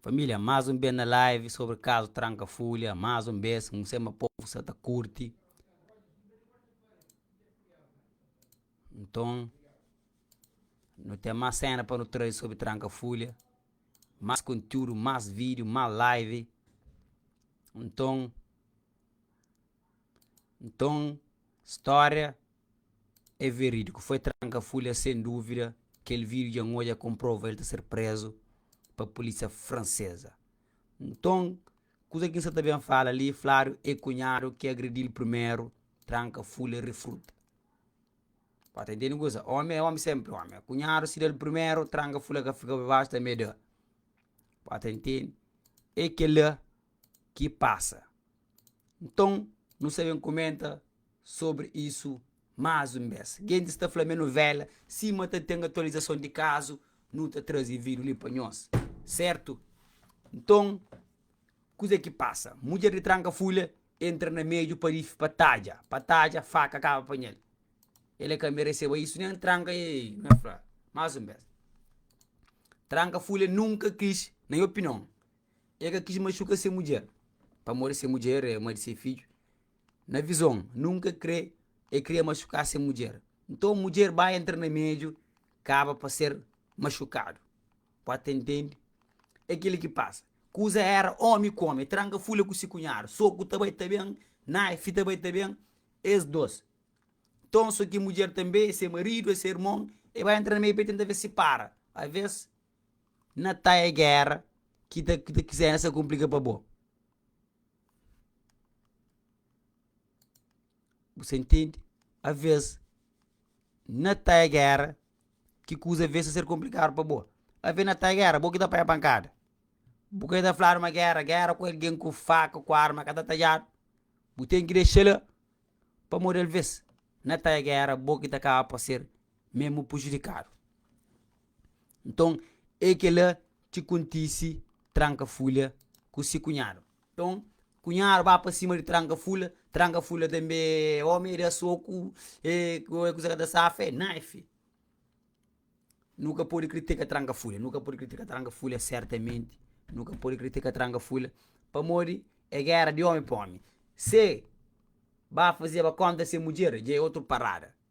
Família, más un bes na live sobri kazu tranka fúlia, más un bes, n sê ma povu sa ta kurti. Nton. Nu ten más séna pa nu traze sobri Tranka Fúlia, más kontiúdu, más vídiu, más live. Nton, nton stória é verídiku. Foi Tranka Fúlia, sen dúvida. Kel vídiu dja N odja kon prova el ta ser prézu pa pulísia franseza. Nton, kuza ki N sa ta ben fala li, Flário é kunhadu ki agredi-l primeru, Tranka Fúlia refruta. Ba ta intendi kusa, omi é omi senpri omi, a kunhadu si da-l primeru, tranga fula ka fika pa baxu tanbe da, ba ta intendi, é kela ki pasa. Nton, nu sta ben kumenta sobri isu más un bes. Gentis ta fla ma é nuvela, sima ta ten atualizason di kazu, nu ta traze vídiu li pa nhos, sertu? Nton, kuze ki pasa? Mudjer di tranka fula Entra na meju pa rifi pa tadja pa tadja faka kaba panhel el e ka mereseba isu nen tranka e na fla mas un bes tranka fule nunka kis na mi opinion e ka kis mashuka se mudjer pamodi se mudjer e ma di se fidju na vizon nunka kre e kria mashuka se mudjer nton mudjer bai entra na meju kaba pa ser mashukadu Pode ta intende é kel-li ki pasa. Kuza éra ómi ku ómi, tranka fule ku si kunhadu, soku ta bai ta ben, naifi ta bai ta ben, es dôs. Nton, so ki mudjer tanbê, é se maridu, é se irmon, el bai entra na meiu pa el tenta fase sipara. Alvês, na ta é géra ki ta ki ta kizénsa kunplika pa bo. Bu sta intende? Alvês, na ta é géra ki kuza ve sta ser konplikadu pa bo, ave na ta gera, bo ki ta panha pankada, bu ka ta fladu ma gera, gera ku algen ku faka, ku arma ka ta tajadu, bu ten ki dexa la, pamodi alves na ta gera bo ki ta kaba pa ser mesmu pujudikadu. Nton, e kila ki kontise tranka-fulha ku si kunhadu. Nton, kunhadu ba pa sima di Trankafula, Trankafula tanbê é ómi, el da soku, ê kua kuza ka ta safa el? Nãã, ê fi! Nu ka pode kritika Trankafula, nu ka pode kritika Trankafula sertamenti, nu ka pode kritika Trankafula, pamodi é géra di ómi pa ómi. Se ba fazeba kónta sen mudjer, dja é otu parada.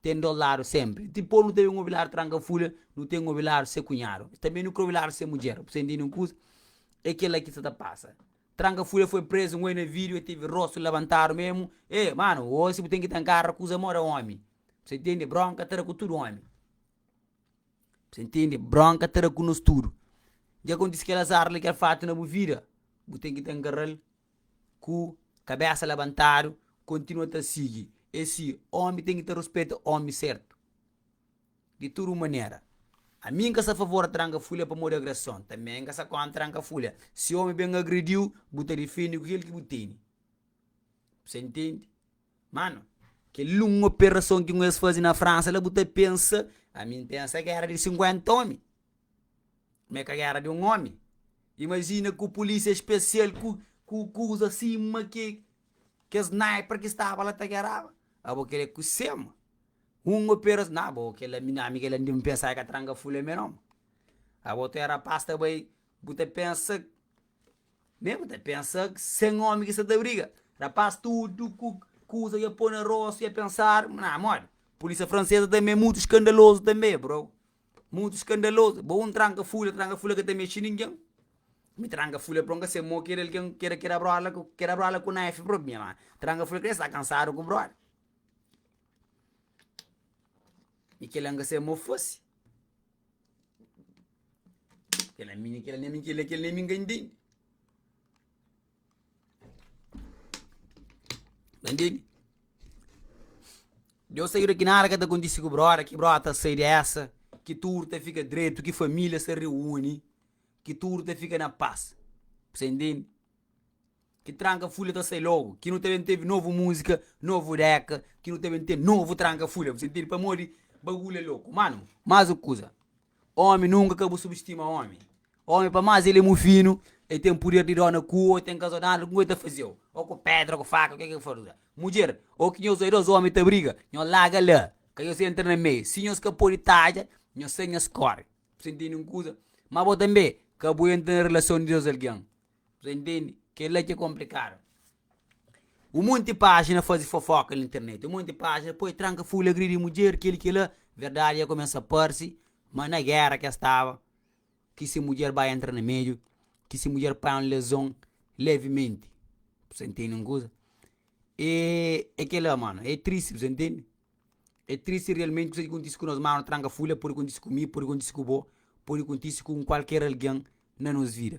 Ten dos ladu senpri. Dipos nu ta ben obi ladu tranka fulha, nu ten obi ladu se kunhadu. Tanbe nu kre obi ladu se mudjer. Bu sta intende un kuza? E kila ki sta ta pasa. Tranka fulha foi prezu ngoi na video e tevi rostu labantadu memu. E, manu, o si bu ten ki ta nkarra kuza mo da omi. Bu sta intende? Bronka ta da ku tudu omi. Bu sta intende? Bronka ta da ku nos tudu. Dja kontise kel azar li, kel fatu na bu vida, bu ten ki ta nkarral. ku kabésa labantadu, kontinua ta sigi e si ómi ten ki ta ruspeta ómi sertu di tudu manera. Ami N ka sta favor tranka fulha pamodi agreson, tanbe N ka sta kóntra tranka fulha. Si ómi ben agredi-u, bu ta difende ku kel ki bu tene. Bus intende? Mano, kel li un operason ki un es faze na Fransa la bu ta pensa, ami N pensa ki éra di 50 ómi. ma é ka gera di un omi. Imajina ku pulisia spesial ku ku kuza sima ke ke sniper ki staba la ta geraba. Abo kila é ku sema un operas na bo kila mi ami kila ndi mi pensa e ka tranga fule mi no. Abo tu é rapaz ta bai bu ta pensa me bu ta pensa sen omi ki sta ta briga. Rapaz tudu ku kuza ya po na rosu ya pensar na modi. Pulisia franseza tambi é mutu skandalozu tambi brou. Mutu skandalozu, bo un tranka fula, tranka fula ka ta mexe ningen, mi tranka fula pron ka se mo kera algen kera kera brola ku kera brola ku naifi propi mi ama, tranka fula krê sta kansadu ku brola i kila ka se mo fosi kila mi kila mi kila kila mi ka intende. Entende? Deus sa ira ki nada ka ta kontise ku brota, ki brota ta sai di esa, ki tudu ta fika dretu, ki familia sa reuni, ki tudu ta fika na pas. Bse entende? Ki tranka fulia ta sai logu, ki nu ta ben tevi novu musika, novu deka, ki nu ta ben ten novu tranka fulia. Bse entende? Pamodi bagulha loku. Mano, mas un kuza. Ómi, nunka ka bu subustima ómi. Ómi, pa más el é mu finu, el ten puder di dóna ku, ô ten kazodándu ku, ku el ta faze-u, ô ku pédra, ô ku faka, kê ki el faze-u. Mudjer, ô ki nhos dós ómi ta briga, nhos larga la, ka nhos entra na meiu. Si nhos ka pode tadja, nhos sai, nhos kóre. Bu sintí nen kuza? Má bo tanbê ka bu entra na relason di dôs algen. Bos ta ntende? Kel-la ki é konplikadu. Un monti pájina faze fofóka na internet, un monti pájina poi tranka fule, agridi mudjer, kel-li kel-la. Verdadi dja kumesa parse, má na géra ki el staba, ki se mudjer bai entra na meiu, ki se mudjer pai un lezon levimenti. Bos ta ntende un kuza? E é kel-la, mano, é tristi, bos ta ntende? É tristi realmenti kuzê ki kontise ku nos. Mano, tranka fule pode kontise ku mi, pode kontise ku bo, pode kontise ku un kualker algen na nos vida.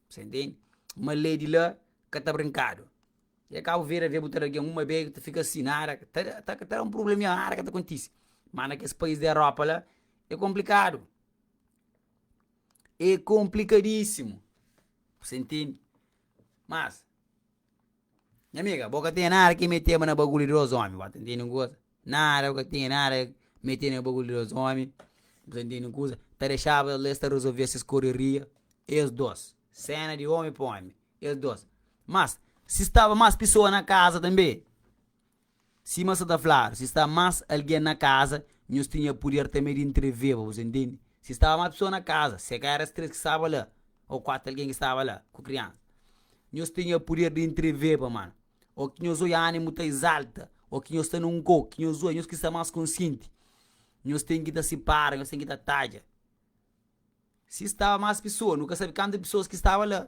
Sa intendi ma lei di la ka ta brinkadu. E Cabo Verde avia bu ta da algin uma beg ta fika si nada ta ta ta da un problemia nada ka ta kontisi ma na kes pais di Europa la e komplikadu e komplikadisimu sa intendi mas Nha amiga, bo ka ten nada ki meteba na bagulho di dos omi, bo ta intende un kuza? Nada, bo ka ten nada ki meteba na bagulho di dos omi, bo ta intende un kuza? Ta dexaba eles la es ta resolvia ses korreria, es dos, sena di omi pa omi, es dos. Mas, si staba mas pisoa na kaza tambi, Sima sa ta fladu, si sta más algen na kaza, nhos tinha puder tanbe di ntreveba, bos intendi? Si staba más pesoa na kaza, se ka era es três ki staba la, ô kuatu algen ki staba la ku kriansa, nhos tinha puder di ntreveba, man, ô ki nhos oia animu ta izalta, ô ki nhos sta nun kô, ki nhos oia, nhos ki sta más konsienti, nhos ten ki ta sipara, nhos ten ki ta tadja. Si staba más pesoa, nu ka sabe kantu di pesoas ki staba la.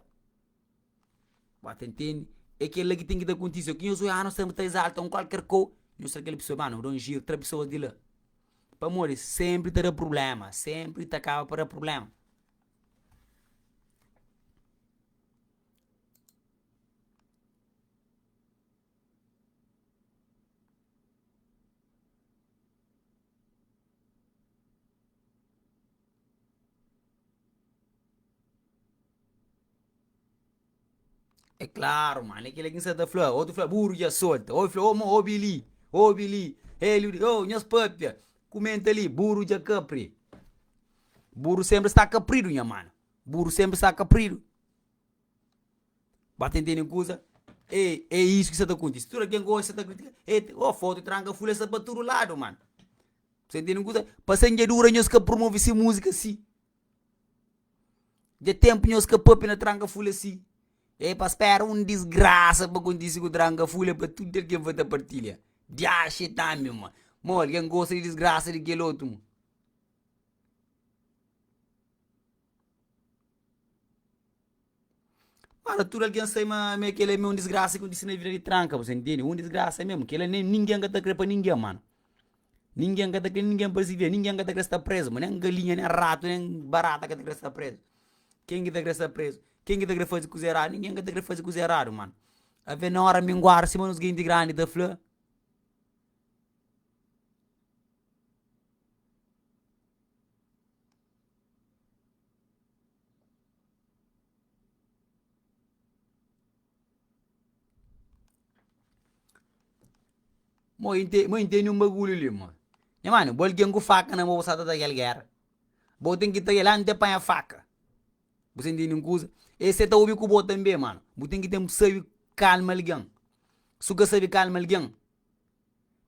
Bo ta ntende? É kel-la ki ten ki ta kontise. Ki nhos oi anu sta ta izalta un kualker ko, nhos tra kel pesoa ba nu da un jiru, tra pesoas di la. Pamodi sempri ta da prubléma, sempri ta kaba pa da prubléma. É klaru mano, é kile ki N sa ta fla, otu fla buru dja solta, obi fla ôma obi li, obi li, Hélio di ôu nhas pâpia, kumenta li, buru dja kapri. Buru sénpri sta kapridu nha mano, buru sénpri sta kapridu. Ba ta intende un kuza, ê é isu ki sta ta kontise, tudu algen ka odja sa ta kritika, ê ô fotu tranka fule sa pa tudu ladu mano. Pasenjadura nhos ka promove si múzika si Dja ténpu nhos ka pape na tranka fule si E pa spera un disgrasa pa kontise ku tranka fule pa tude algen fa ta partilha Di axe tanbe ma Mo algen gosta di disgrasa di kel otu mo. Para tudu algen sai ma ma kel la me un disgrasa ki kontisi na vida di tranka bos ta ntende, un disgrasa mesmo, kel la nin-ningen ka ta kre pa ningen mano, ningen ka ta kre ningen pa sibi-l, ningen ka ta kre sta prezu ma, nen galinha, nen ratu, nen barata ka ta kre sta prezu, ken ki ta kre sta prezu? Ken ki ta kre faze kuza eradu? Ningen ka ta kre faze kuza eradu mano, ave na ora minguadu sima nos genti grandi ta fla, Mo inte, mo intendi um bagulho ali, mo. Nha mano, bo alguém com faca na mão, bo sa ta ta aquela guerra. Bo tem que ta lá, não tem apanha faca. Bo sa intendi um coisa? E se ta ouvi com bo também, mano. Bo tem que tem sabi calma alguém. Se o ka sabi calma alguém.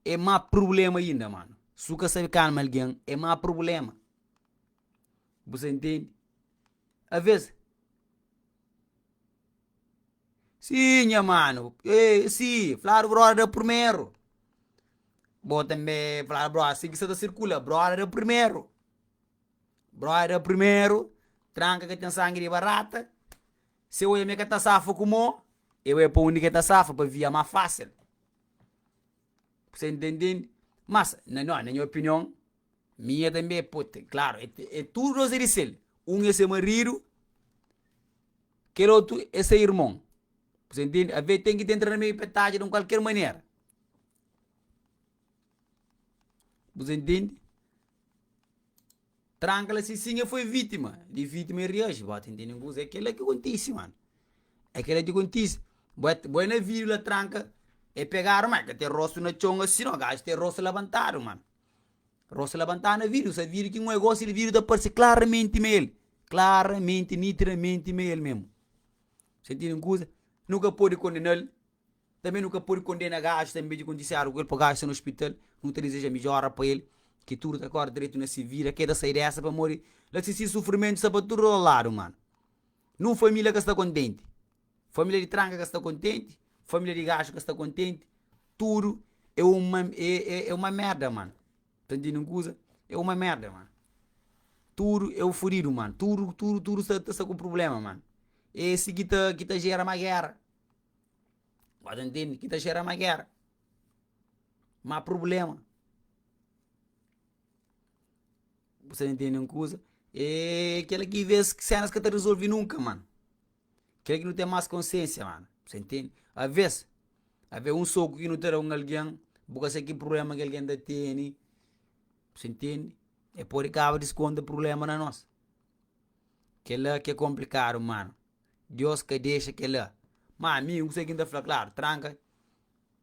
é má prubléma inda, mano. Si bu ka sabe kalma algen, é má prubléma. Bu sta intende? Avês, Sii, nha mano, êê, sii, fladu bróda primeru. Bo tanbe fla bróda asin ki sa ta sirkula, bróda primeru. Bróda primeru, tranka ka ten sangi di barata, se oi ame ka ta safa ku mo, e bai pa undi ke ta safa pa via má fásil. Kuse ntendendi? Mas, na no, na nha opinion, minha tambi e poti, klaru, e te, e tudu dos e di sel, un e se maridu, kel otu e se irmon, kuse ntendi? Ave e ten ki ta entra na meiu pa e ta ajuda un kualker manera, kuse ntendi? Tranka la si sin e foi vítima di vítima e reaji bo ta intende un kuza é kela ki kontise mano é kela ki kontise bo é bo é na vídiu la tranka e pegadu ma e ka ten rostu na txon asi no gaji ten rostu labantadu mano rostu labantadu na vídiu sa vídiu ki un gosi el vídiu ta parse klaramenti ma el klaramenti nitidamenti ma el mesmo sa intende un kuza nu ka pode kondenal. Tanbê nu ka pode kondena gajus ta inbeja kontisiadu ku el pa gajus sta na ospital, nu ta dizeja midjora pa el ki tudu ta kore dretu na si vida, ke ta sai dessa pamodi la si si sufrimentu sta pa tudu ladu mano. Nun familia ka sta kontenti, familia di tranka ka sta kontenti, familia di gaju ka sta kontenti, tudu e uma e e e uma merda mano, ta ntindi un kuza? e uma merda mano, tudu e um fudidu mano, tudu tudu tudu sta sta ku problema mano, e si ki ta ki ta gera ma gera. Gosi N tende ki ta xera ma gera, ma prublema. Bu sta ntende un kuza? Eee kila ki vez ki senas ka ta rizolvi nunka mano, kila ki nu ten mas konsiensia mano, se ntende? Aves, ave un soku ki nu ta da un algen bu ka sai ki prublema ki algen ta teni, si ntende? E podi kaba diskonta prublema na nos, kila ki komplikadu mano. Diós ka dexa kel-la. Má ami, N konsigi ki N ta fla klaru, Tranka,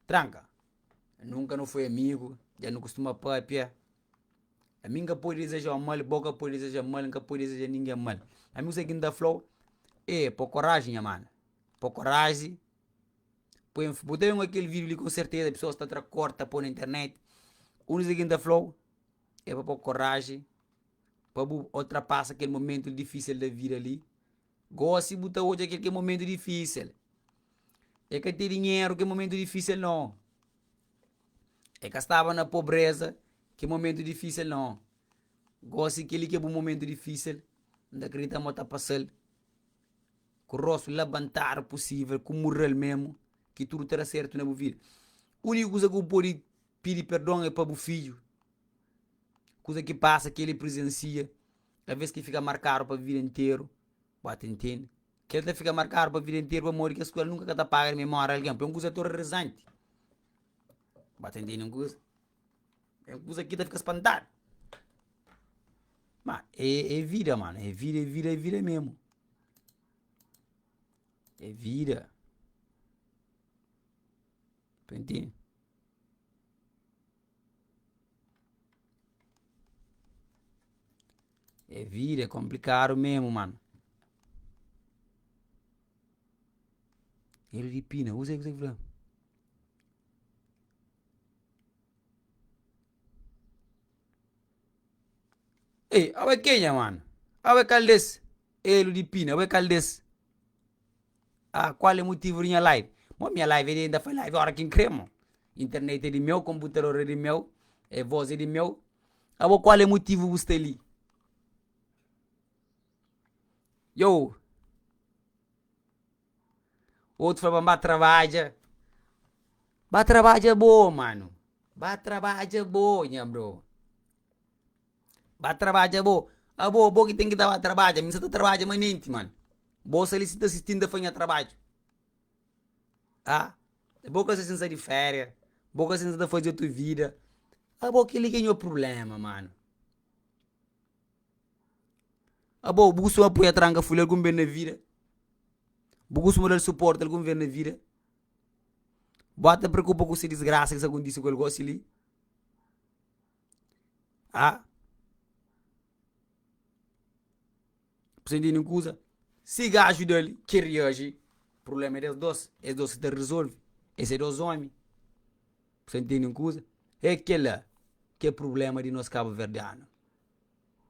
tranka! Nunka nu foi amigu, dja nu kustuma pâpia. Ami N ka pode dizeja-u mal, bo ka pode dizeja-m mal, N ka pode dizeja ningen mal. Ami konsigi ki N ta fla-u, E, po koraji, nha mana, po koraji, poi un. Bu ta ben ku kel vídiu li, ku serteza pesoas ta tra kor, ta poi na internet. N konsigi ki N ta fla-u, E pa po koraji, pa bu ultrapasa kel momentu difísil di vida li. Gosi bu ta odja kel ki é momentu difísil é ka ten dinheru ki é momentu difísil non é ka staba na pobreza ki é momentu difísil non gosi kel li ki é bu momentu difísil N ta kridita ma bu ta pasal ku rostu labantadu pusivel ku mural mesmu ki tudu ta da sertu na bu vida uniku kuza ku bu podi pidi perdon é pa bu fidju kuza ki pasa kel li prizensia Talvês ki fika markadu pa vida interu, bu a ta intende. Kel ta fika markadu pa vida interu pamodi kes kuza li nunka ka ta paga di memória algen, pa é un kuza atorrorizanti. Bu a ta intende un kuza? É un kuza ki ta fika spantadu. Má é é vida mano, é vida, é vida, é vida mesmu. É vida. Pentinha. E vida é konplikadu mesmu mano. Dedo di pina, usa ki ta. Ê abo é kenha mano? Abo é kal des? Dedo di pina, abo é kal des? Ah qual é motivo di nha live? Bom, nha live é di inda fai live ora ki N kre mo. Internet é di meu, konputador é di meu, e vos é di meu. Abo qual é motivo bu sta li? Yow, otu fla ban ba trabadja, ba trabadja bo mano, ba trabadja bo nha bro. Ba trabadja bo, abo bo ki ten ki ta ba trabadja, mi sa ta trabadja manenti mano, bo sa li si ta assisti-m ta fai nha trabadju ah, bo ka sa di feria, bo ka sa ta fazi otu vida, abo kel li ki é nho problema mano, abo bu kusuma poi atranka fule algun be na vida, bu kusuma dal suporti algun ve na vida, bo ata preokupa ku si disgrasa ki sa kontise ku el gosi li. A. Precisa intende un kuza, si gajo da li ke reaji, prublema é des dos, es dos ki ta rezolve, es é dos omi. Precisa intende un kuza, é kela ke prublema di nos kabuverdianu,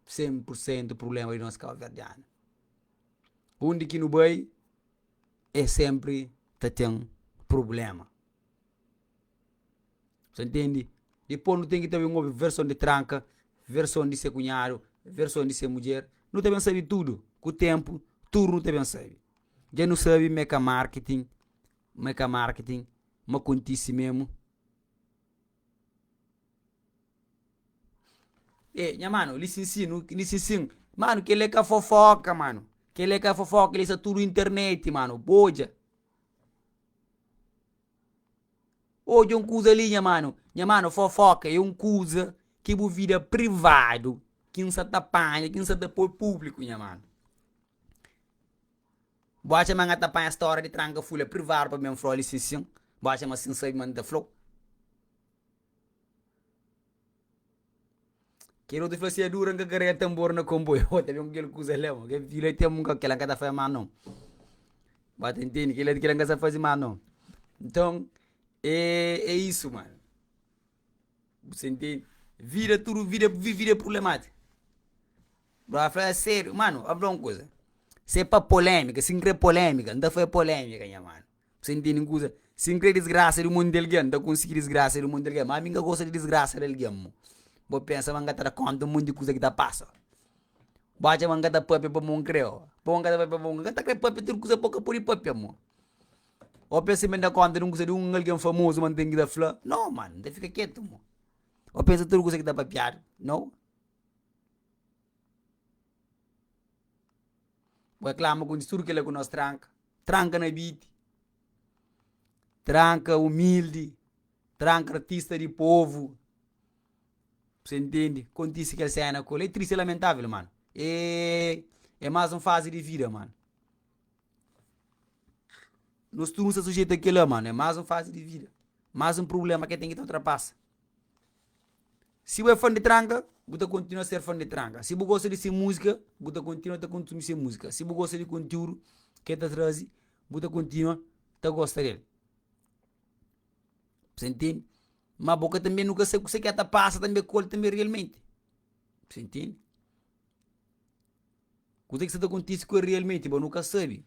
sen pur sentu prublema di nos kabuverdianu. Undi ki nu bai, e senpri ta ten prublema. Sa ntende? Dipô nu ten ki ta ben obi verson di tranka, verson di se kunhadu, verson di se mudjer, nu ta ben sabe tudu. Ku ténpu, tudu nu ta ben sabe. Dja nu sabe ma é ka marketing, ma é ka marketing, ma kontise mésmu. Ê, nha mano, lisinsin, lisinsin, mano, kel-li é ka fofóka, mano, kel-li é ka fofóka, kel-li sta tudu na internet, mano, bo odja. Odja un kuza li, nha manu. Nha manu, fofóka é un kuza ki bu vida privadu, ki N sa ta panha, ki N sa ta poi públiku, nha manu. Bu atxa ma N ta panha stória di tranka fula privadu pa ben fla-u li sin-sin? Bu atxa ma si N sabe ma N ta fla-u? Kel otu fla si adura nka karega tambor na konboi oh ta ben ku kel kuza la mo kel fila tem nka kela nka ta fai mal non ba ta intende kila kila nka sa faze mal non nton é isso mano bu sai ntende vida tudu vida vi vida é problemátiku ba fla é serio mano a fla un kuza se pa polemika si n kre polemika nta fai polemika nha mano Ku sen tene kuza, si N kre disgrasa di mon di algen, N ta konsigi disgrasa di mon di algen. Má ami N ka gosta di disgrasa di algen. Mo bo pensa ma N ka ta da kónta mon di kuza ki ta pasa? Bo atxa ma N ka ta pâpia pa mon kre? Ó, pamodi N ka ta pâpia pamodi N ka ta krê pâpia tudu kuza pa N ka pode pâpia, mo. Ô pensa ma N da kónta di un kuza di un algen famozu ma N ten ki ta fla? Nau mano, N ta fika ketu, mo. Ô pensa tudu kuza ki ta papiadu? Nau. Boi klama kundi tudu kila ku nos tranka, tranka na biti, tranka umildi, tranka artista di povu, se ntende, kontisi kel sena kula, e tristi e lamentável mano, e mas un fazi di vida mano, nos tudu nu sta sujetu a kila mano, e mas un fazi di vida, mas un prublema ke ten ki ta ultrapasa. Si bu é fan di tranka, bu ta kontinua ser fan di tranka, si bu gosta di se múzika, bu ta kontinua ta konsumi se múzika, si bu gosta di konteúdu ki el ta traze, bu ta kontinua ta gosta di el. Meste ntende, má bo ka ta ben, nu ka sabe kuse ki el ta pasa tanbê ku el tanbê rialmenti. Meste ntende? Kuzê ki sta ta kontise ku el rialmenti bo nu ka sabe.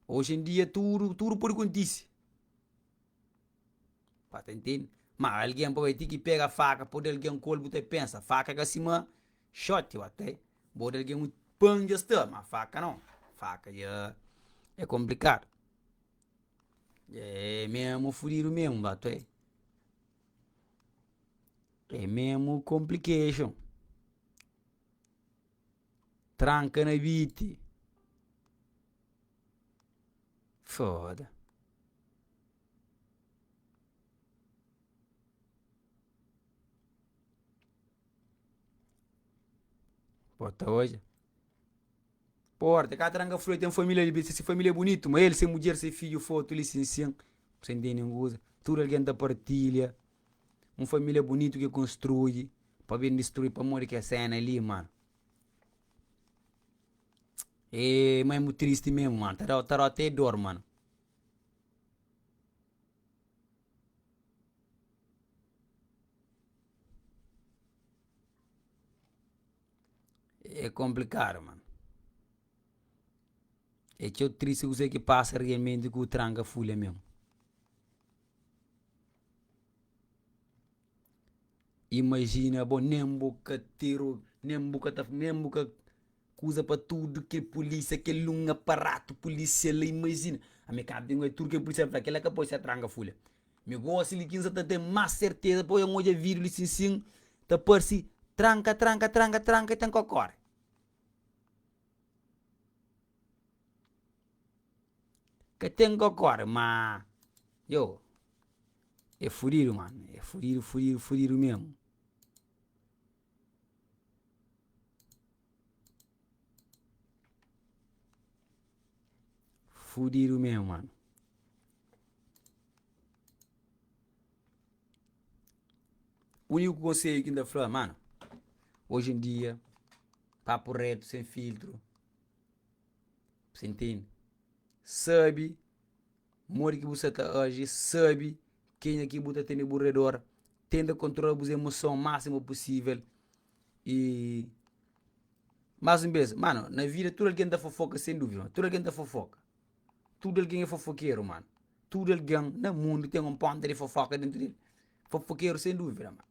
Oji-n-dia tudu, tudu pode kontise. Ba ta ntende, ma algen pa bai ti ki pega faka pa odi algen ku ol, bu ta pensa faka ka sima xote ok, bu odi algen un pan dja sta ma faka nau, faka dja e konplikadu dja e mesmu fudidu mesmu ba to, e mesmu complication. Tranka na biti. Foda. Bo ta odja. Porta, ka tranka flu, el ten família li be, si se família é bunitu, ma el, se mudjer, se fidju, fotu li, sinsin, sen dia nen goza, tudu algen ta partilha. Un família bunitu ki konstrui pa ben distrui pamodi kes séna li mano. Eee ma é mu tristi memu mano, ta da-u ta da-u até dor mano. É konplikadu mano, é txeu tristi kuzê ki pasa realmenti ku tranka fulha memu. Imajina bo nen bu ka teru nen bu ka ta nen bu ka kuza pa tudu ke pulisia kel un aparatu pulisia la imajina ami ka bin oja tudu ke pulisia fla kila ka poi se tranga fulia mi gosi li kinsa ta ten mas serteza poi un oja video li sin sin ta parsi tranka tranka tranka tranka i ten ko kore. Ka ten kokore ma io e fudidu mano, e fudidu, fudidu, fudidu mesmo. Fudidu mesmo mano. Unico conselho ki nta fla, mano, hoje em dia, papo reto, sem filtro. B'sta intende? Sabe modi ki bu sta ta aji, sabe kenha ki bu ta tene bu redor, tenta kontrola bus emoson másimu pusível. I más un bes, mano, na vida tudu algen ta fofoka sen dúvida, tudu algen ta fofoka. Tudu algen é fofokeru, mano. Tudu algen na mundu ten un ponta di fofoka dentu di el. Fofokeru sen dúvida, mano.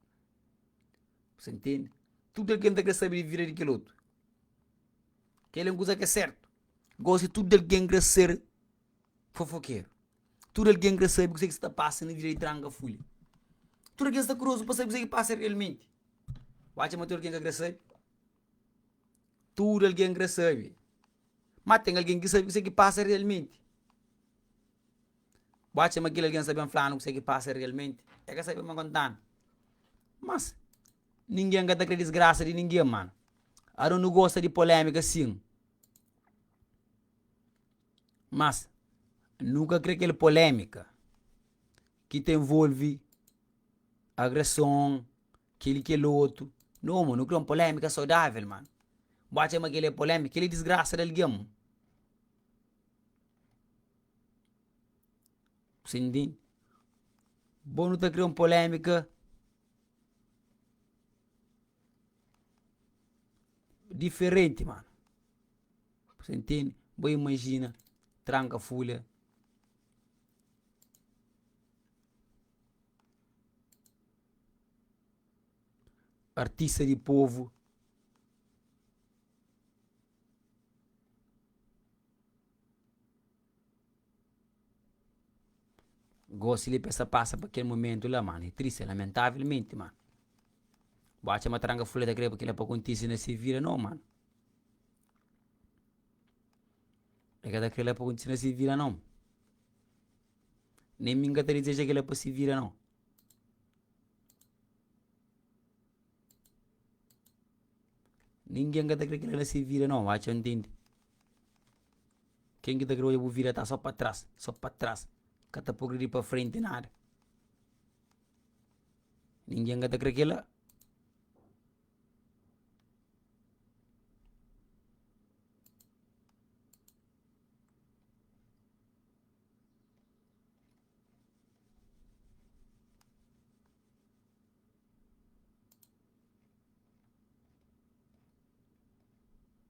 B'sta intende? Tudu algen ta krê sabe di vida di kel otu. Kel é un kuza ki é sértu. Gósi, tudu algen krê ser fofokeru. Tudu algen krê sabe kuzê ki sta ta pasa na vida di tranga fulha. Tudu algen sta kuriozu pa sabe kuzê ki pasa realmenti. Bu atxa ma tudu algen ka krê sabe? Tudu algen krê sabe. Má ten algen ki sabe kuzê ki pasa realmenti. Bo atxa ma kel algen sta ben fla-nu kuzê ki pasa realmenti? El ka sta ben konta-nu. Mas, ningen ka ta krê disgrasa di ningen, mano. Aron nu gosta di polémika sin. Mas, nu ka krê kel polémika ki ta involve agreson, kel-li, kel otu. Nau, mano, nu krê un polémika saudável, mano. Bo atxa ma kel-li é polémika? Kel-li é disgrasa di algen. bo nu ta kria un polémika diferenti mano, você entende? Bo imajina tranka folha artista di povo. Gosi li pa es ta pasa pa kel mumentu la, mano. É tristi, é lamentavelmenti, mano. Bo atxa matranga fula ta kreba kila pa kontise na se vida? Nau, mano. El ka ta kre la pa kontise na se vida nau. Nem mi ka ta dezeja kila pa se vida nau. Ninguém ka ta kre kila na se vida nau, ho atxa ntende. Ken ki ta kre odja bu vida ta so pa tras, so pa tras, ka ta progredi pa frenti nada. Ningin ka ta kre kila.